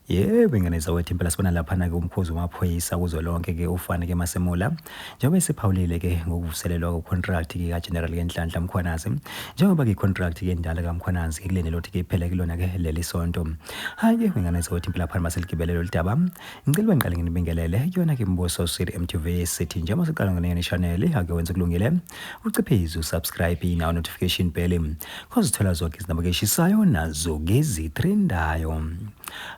Yebo ingane zawethu impela sibona laphana-ke umkhuzi wamaphoyisa kuzo lonke-ke ufane-ke masemula njengoba esiphawulile-ke ngokuvuselelwa kokhontract-ke kageneral kenhlanhla mkhwanazi njengoba-ke ikhontract kendala kamkhwanazi ke kulendela ukuthi-ke iphele kulona-ke leli sonto hhayi-ke ingane zawethu impela phana maseligibele lolu daba ngicela uba ngiqale nginibingelele kuyona-ke mbuso sir mtv sithi njengoba siqala ngeneyona ishaneli ake wenze kulungile uciphize usubscribe inawo notification bell khozithola zonke izinamba keshisayo nazo ngezitrendayo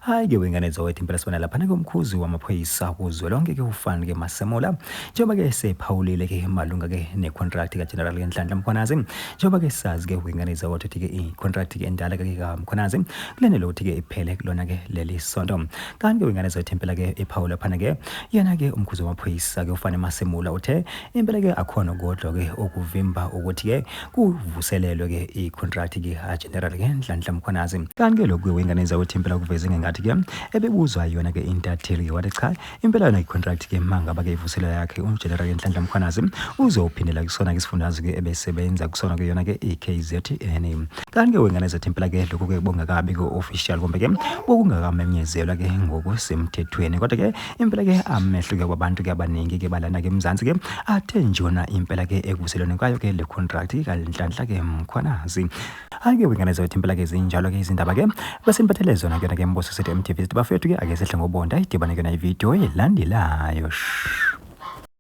hayi ke wengane zawethu impela sibona laphana komkhuzi wamaphoyisa kuzwe lonke ke ufani ke masemola njengoba ke sephawulile ke malunga ke necontract kageneral ngenhlanhla mkhwanazi njengoba ke sazi ke wengane zawethu ukuthi ke icontract ke endala ke kamkhwanazi kulenele ukuthi ke iphele kulona ke leli sonto kanti ke wengane zawethu impela ke ephawula phana ke yena ke umkhuzi wamaphoyisa ke ufane masemola uthe Impela ke akhona kodwa ke okuvimba ukuthi ke kuvuselelwe ke icontract ke a general ke Nhlanhla Mkhwanazi kanti ke lokhu wengane enza ukuthi impela kuveze ngengathi ke ebebuzwa yona ke intatheli ke wathi cha impela yona icontract ke mangaba ke ivuselelo yakhe uGeneral Nhlanhla Mkhwanazi uzophindela kusona ke isifundazwe ke ebesebenza kusona ke yona ke iKZN kanti ke wengane zathi impela ke lokhu ke bongakabi ke official kumbe ke bokungakamenyezelwa ke ngokusemthethweni kodwa ke impela ke amehluke kwabantu ke abaningi ke balana ke eMzansi ke athe njona impela ke ekuselweni kwayo ke le contract kaNhlanhla ke Mkhwanazi ake wengane zethu impela ke zinjalo ke izindaba ke bese niphathele zona kuyona ke Mbuso City MTV bafethu ke ake sehle ngobonda idibane kuyona ivideo elandelayo